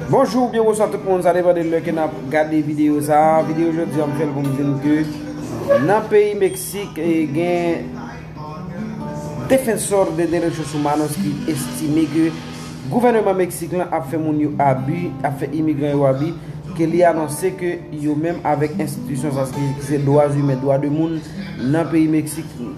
Bonjou, byen bonsoir tout moun, sa depan de lè ke nap gade video sa, video jodi an m fèl pou m di nou ke nan peyi Meksik gen defensor de derechos humanos ki estime ke gouveneman Meksik lan ap fè moun yo abi, ap fè imigran yo abi, ke li anonse ke yo menm avek enstitisyon sa ki se dwa zumen, dwa de moun nan peyi Meksik.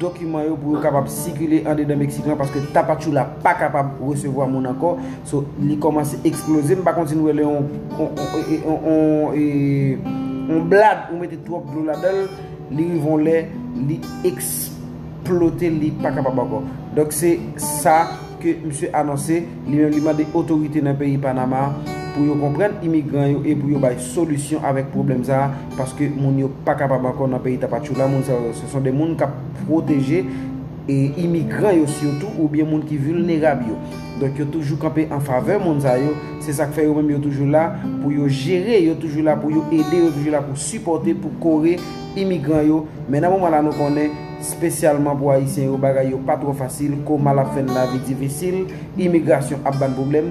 dokiman yo pou yo kapab sikile andedan Meksik lan paske Tapachula pa kapab resevwa moun ankò so li kòmanse eksploze m pa konn si nou wè lè yon yon blad ou mete twòp dlo ladan l li rive yon lè li eksplote li pa kapab ankò donk se sa ke msye anonse li menm li mande otorite nan peyi Panama pou yo konprann imigran yo e pou yo bay solisyon avèk pwoblèm sa a. Paske moun yo pa kapab ankò nan peyi Tapachula, moun sa yo se son de moun k ap pwoteje e imigran yo sitou oubyen moun ki vilnerab yo. Donk yo toujou kanpe an favè moun sa yo, se sa k fè yo menm yo toujou la pou yo jere, yo toujou la pou yo ede, yo toujou la pou sipòte, pou kore imigran yo. Men nan moman la nou konnen, spesyalman pou Ayisyen yo bagay yo pa twò fasil, koma l ap fè n lavi difisil, imigrasyon ap ba n pwoblèm.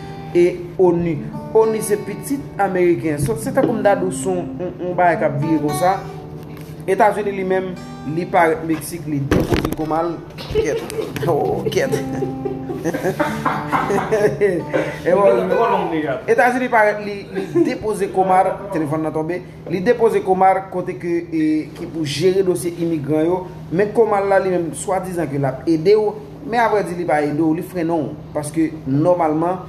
e onu. Onu se pitit ameriken. Sot se tankou m ta di w son yon bagay k ap vire konsa. Etazini li menm li parèt Meksik li depoze kou mal. Kèt. Oh kèt. Etazini parèt li depoze kou mal. Telefon nan tonbe. Li depoze kou mal kote ke ki pou jere dosye imigran yo. Men kou mal la li menm swa dizan ke l ap ede w. Men a vrè di li pa ede w, li frennen w. Paske nòmalman,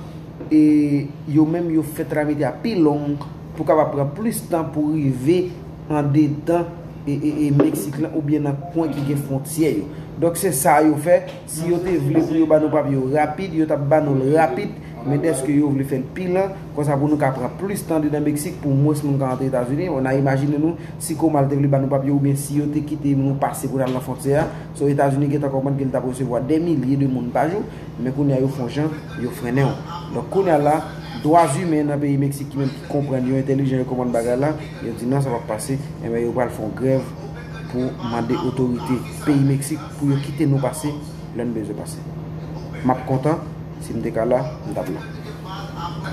e yo menm yo fè tramite a pi long pou kapab pran plis tan pou rive andedan e Meksik lan oubyen nan kwen ki gen fwontyè yo. Donk se sa yo fè, si yo te vle pou yo ba nou papye yo rapid, yo t ap ba nou l rapid, men dèske yo vle fè l pi lan, konsa pou nou ka pran plis tan andedan Meksik pou mwens moun ka antre Etazini, bon n a imajine nou si Comal te vle ba nou papye oubyen si yo te kite nou pase pou n al nan fwontyè a, So Etazini gentan konprann ke li tap resevwa dè milye de moun pa jou, men kounye a yo fon jan yo frennenw. Donk kounye a la, dwa zimen nan peyi Meksik ki menm ki konprann yo entelijan yo konprann bagay la, yo di nan sa pap pase, enben yo pral fon grèv pou mande otorite peyi Meksik pou yo kite nou pase lèn bezwen pase. Map kontan, sim te ka la, m tap la.